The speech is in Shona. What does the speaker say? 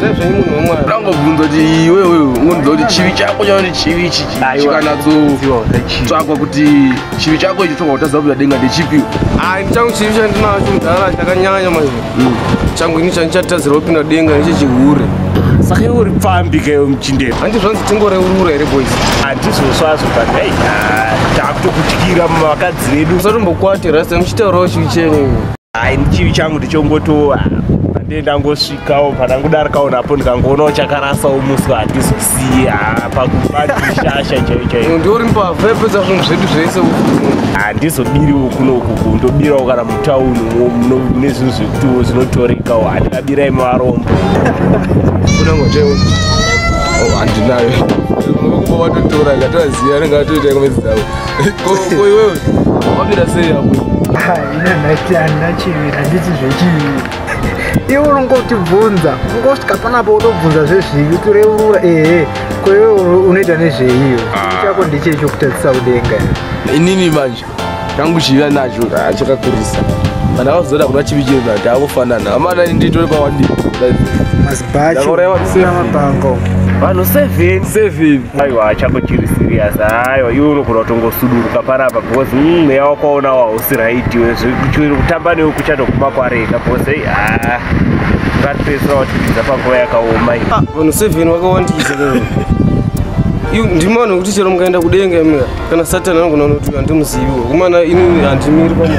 sezvenyi munhu wemwana ndangobvunza kuti iwewe ungondiza kuti chivi chako chauri chivi ichi chikanatsotsvakwa kuti chivi chako ichi tsvakwa kutaza kuya denga ndechipi ai changu chivi chandinacho mudhara chakanyanya manje hmm. changu ini chandichatadzira kupinda denga neche chihure saka uri pfambi keyo muchindei handi zvanzi tingoreurura here boys handizosvazvo but hey takutokutyira mavakadzi vedu usatombokwati rasta muchitaurawo chivi chenyu Hai chivi changu ndichongotowa ndiye ndangosvikawo pandangodarikawo napo ndikangoonawo chakarasawo musi wandizosiya pakubadishasha chaiyo chaiyo ndiori mbavha yapedza zvinhu zvedu zvese handizobiriwo kuno ukuku ndobirawo kana mutauni mune zvinhu zvekutiwo zvinotorekawo handikabirai mavarombo handinayo kuba vatotora ngatovaziva anenge atoita komedzi dzavo koiwewe wabira sei apo ndati handina chiviri handiti zvechii iwe unongotibvunza ungosvika panapa utobvunza zvezvivi utoreurura ehe ko iwe unoita nezveiyo ah. chako ndichecho kutadzisa kudenga inini manje changu chiva nacho ah, chakakurisa kana vazoda kuna chivi chiri nati akufanana amana nditore pawandii mazibachomapanga vanhu seven seven aiwa hachako chiri serious aiwa iwe unogona kutongosuduruka panapa because mm, mweya mm, wakaona wausi right iwe zviri kutamba newe kuchatoguma kwareka because ei haa ngatipedzisira watipidza panguva yakaoma i ah, vanhu seven wakawandiza ndimana kuti chero mukaenda kudenga mika kana satan anogona unoti handimuziviwo kumana ini handimiri pamwe